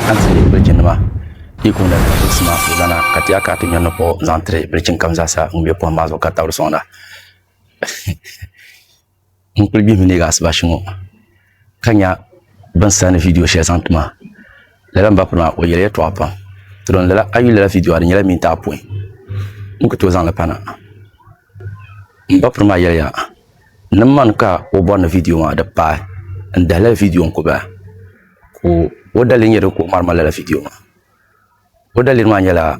An ti yi birichinima ikum la ni Jibisi maa puhi lana ka ti ya ka ti nyɔri ni kpuɣi zaŋ tiri birichin kam zaa sa ŋun be pohim maa zuɣu ka tabiri sɔŋda. N kuli gbihimi neegi asibashi ŋɔ ka nya bɛ ni sani vidiyo shɛli zaŋ ti ma. Lala m ba piri maa o yɛli yɛltɔɣa pam. Ti don lala a yuli lala vidiyo a di nyɛla minti apɔin n ku tooi zaŋ li pa na. M ba piri maa yɛliya ni man ka o bɔri ni vidiyo maa di paai n dahi lala vidiyo n ku bahi. ka o daliri nyɛ ka o ŋmari ŋmari lala viidiyo maa o daliri maa nyɛla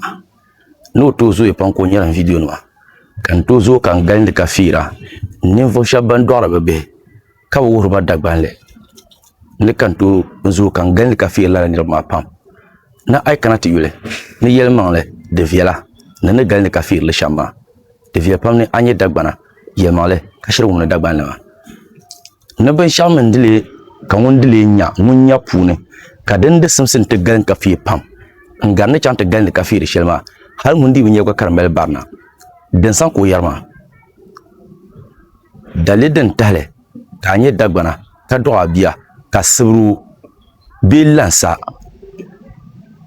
ni o tooi zooya pam ka o ŋmɛri viidiyo nima ka n tooi zooi ka n gindi ka fiira ninvuɣu shab ban doɣari bi bihi ka bi wuhuriba dagbanli ni ka n tooi zooi ka n gindi ka fiiri lala niraba maa pam ni a yi kana ti yuli ni yɛlimaŋli di viɛla ni ni gindi ka fiiri li shɛm maa di viɛli pam ni a nyɛ dagbana yɛlimaŋli ka shiri wumdi dagbanli maa Ni binshɛɣu mini di lee ka ŋun di lee nya ŋun nya puuni, ka din di simsi nti galin ka feei pam, n gari ni chaŋ ti galindi ka feei di shɛli maa, hal ŋun dii bi nya gba ka di mali barina, din saŋ ka o yɛri maa. Daliri din tahili ka a nya Dagbana ka dɔɣi a bia, ka sibiri o bee lan sa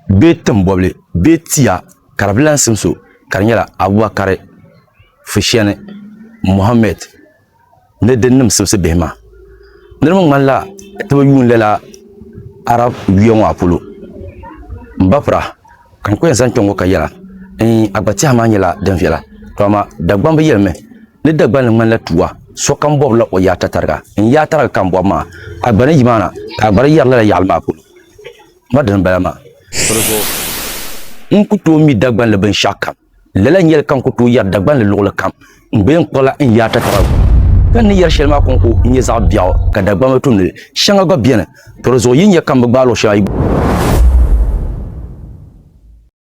bee tim bɔbili bee ti ya ka di bi lan simsi o, ka di nyɛla Abubakari, Fushɛni, Muhammad, ni di nim simsi bihi maa. Niriba ŋmanila ti bi yuun lala Arab yuya ŋɔ a polo. M ba pura, ka n ku yɛn zaŋ kpe ŋɔ ka yɛla, Iin, a gba tɛha maa nyɛla din viɛla, tɔ amaa Dagbamb yɛlimi ni Dagbal ni ŋmanila tuwa, sokam bɔbila o yaata tariga. N yaata tariga ka n bɔbi maa, a gba ni yi maa na, ka a gba di yɛri lala yaɣili maa polo. N ba dini m-bala maa. Di zuɣu n ku tooi mi Dagbanli binshɛɣukam. Lala nyɛli ka n ku tooi yɛri Dagbanli luɣuli kam n bee n kpuɣila n yaata taba ka n ni yɛri shɛli maa kɔŋko n nyɛ zaɣ biɛɣu ka Dagbamba tumdili shɛŋa gba beni, to di zuɣu yi nya ka m bi gbaai luɣ shɛli a yi